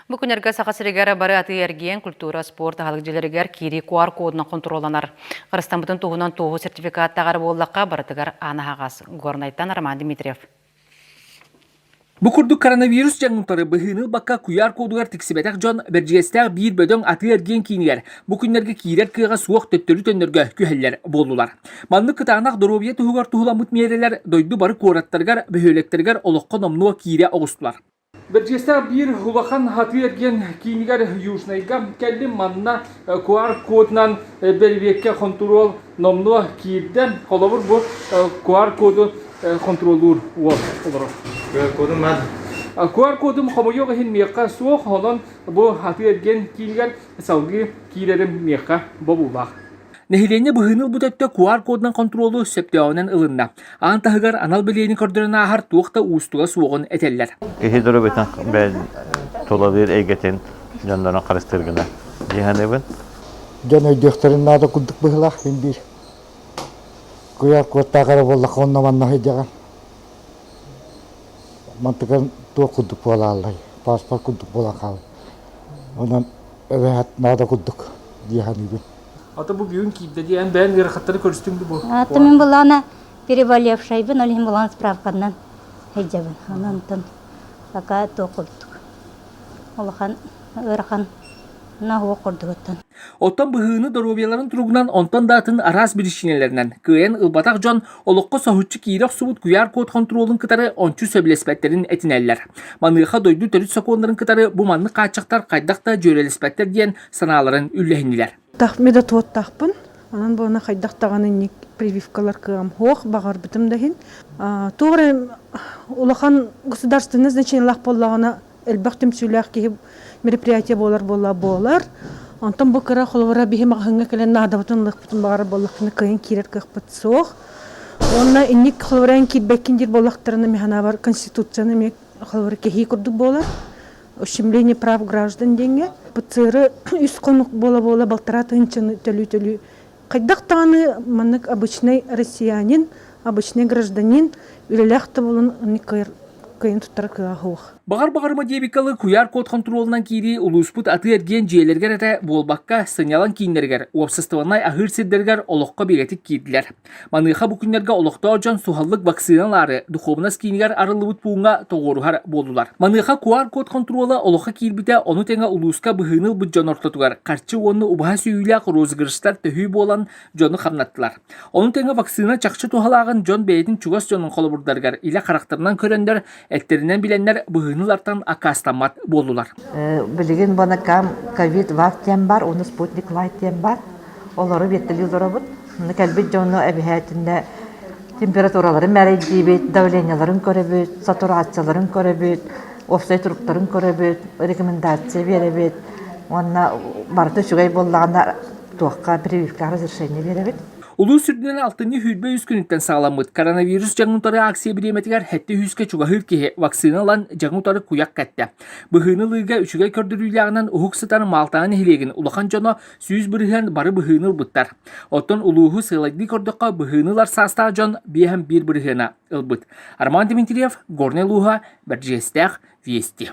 Бу күннэргэ Саха сиригэр бары атыы-эргиэн, культура, спорт аһылык киирии QR кодунан хонтуруолланар. Харыстаммытын туһунан туоһу сертификаттааҕар буоллахха, барытыгар аан аһаҕас. Горнайтан Роман Дмитриев. Бу курдук коронавирус дьаҥынтары быһыыны-бакка куйаар кодугар тиксибэтэх дьон Бэрдьигэстээх биир бөдөҥ атыы-эргиэн киинигэр бу күннэргэ киирэр кыаҕа суох төттөрү төннөргө күһэллэр буоллулар. Маннык кытаанах доруобуйа туһугар туһуламмыт миэрэлэр дойду бары куораттарыгар, бөһүөлэктэригэр олоххо номнуо киирэ оҕустулар. Бэрдьиэстээх биир улахан атыы-эргиэн киинигэр Южнайга кэллим манна QR-кодунан бэрэбиэркэ хонтуруол номнуо киирдэ. Холобур бу QR-коду хонтуруоллуур уол олорор. QR-кодум бар. QR-кодум хомойуох иһин миэхэ суох, онон бу атыы-эргиэн киинигэр салгыы киирэрим миэхэ бобуулаах. Нэһилиэнньэ быһыыны ылбыт өттө QR-кодунан хонтуруолу сөптөөҕүнэн ылынна. Аан таһыгар анал билиэни көрдөрөн ааһар туох да уустуга суоҕун этэллэр. Киһи дурубитин бэл тулалыыр эйгэтин дьоннорун харыстыыргына дии саныыбын. Дьон өйдүөхтэрин наада курдук быһылаах мин биир QR-кодтаах эрэ буоллахха онно манна сылдьаҕын. Мантыкан туох курдук буолааллай, паспорт курдук буола хаалай. Онон эбэһэт наада курдук дии саныыбын. Ата бу бүгүн киирдэ дии. Эн бэйэн ыарахаттары көрүстүҥ бу бу. Ата мин былаана переболевшайбын, ол иһин былаан справканнан сылдьабын. Онон пока туох курдук. Улахан ыарахан наһуох курдугуттан. Оттон быһыыны доруобуйаларын туругунан онтон да атын араас биричиинэлэринэн кыайан ылбатах дьон олоххо соһуччу киирэ охсубут куйаар код хонтуруолун кытары ончу сөбүлэспэттэрин этинэллэр. Маныаха дойду төрүт сокуоннарын кытары бу маннык хааччахтар хайдах да дьүөрэлэспэттэр диэн санааларын үллэһиннилэр. Тахми да туоттахпын, онон буона хайдах даҕаны инник прививкалар кыам хуох баҕарбытым да иһин. Туора улахан государственный значениелаах боллаҕына элбэх түмсүүлээх киһи мероприятие буолар буола буолар. Онтон бу кыра холобура биһи маҕаһыҥҥа кэлэн наадабытын ылыахпытын баҕарар боллохпуна кыайын киирэр кыахпыт суох. Уонна инник холобура киирбэккин диир боллохторуна механабар конституцияны эмиэ Холобур, кэһии курдук буолар. Ущемление прав граждан диэҥҥэ ПЦР үс хонук буола-буола балтараа тыһыынчаны төлүү-төлүү хайдах даҕаны маннык обычнай россиянин, обычнай гражданин үлэлээх да буолан оннук кыайар кыайан туттара кыаҕа суох. Баҕар баҕарма диэбиккэ куйаар код хонтуруолунан киирии улууспут атыы-эргиэн дьиэлэригэр этэ буолбакка, сынньалаҥ кииннэригэр, уопсастыбаннай аһыыр сирдэригэр олоххо бигэтик киирдилэр. Маныаха бу күннэргэ олохтоох дьон суһаллык вакцина ылаары духуобунас киинигэр арыллыбыт пууҥҥа тоҕуоруһар буоллулар. Маныаха QR-код хонтуруола олоххо киирбитэ ону тэҥэ улууска быһыыны ылбыт дьон ортотугар харчы уонна убаһа сүүйүүлээх розыгрыштар төһүү буолан дьону хамнаттылар. Ону тэҥэ вакцина чахчы туһалааҕын дьон бэйэтин чугас дьонун холобурдарыгар илэ харахтарынан көрөннөр Эттэринэн билэннэр быһыынылартан аккаастаммат буоллулар. Билигин бонакам ковид лав диэн бар, оны спутник лайт диэн бар. Олору биэттэлии олоробут. Кэлбит дьону эбэһээтинэ температураларын мэрэйдиибит, давленияларын көрөбүт, сатураацияларын көрөбүт, офсай туруктарын көрөбүт, рекомендация беребит. Уонна барыта үчүгэй буоллаҕына туохха прививкаҕа разрешение беребит. Улуус үрдүнэн алтынньы сүүрбэ үс күнүттэн саҕаламмыт коронавирус дьаҥын утары акция бириэмэтигэр сэттэ үһүскэ чугаһыыр киһи вакцина ылан дьаҥы утары куйах кэттэ. Быһыыны ылыыга үчүгэй көрдөрүүлээҕинэн уһук сытар Малтана нэһилиэгин улахан дьоно сүүс бырыһыан бары быһыыны ылбыттар. Оттон улууһу сыалайдыы көрдөххө быһыыны ылар саастаах дьон биэһэн биир бырыһыана ылбыт. Роман Дмитриев, Горнай улууһа, Бэрдьиэстээх, Вести.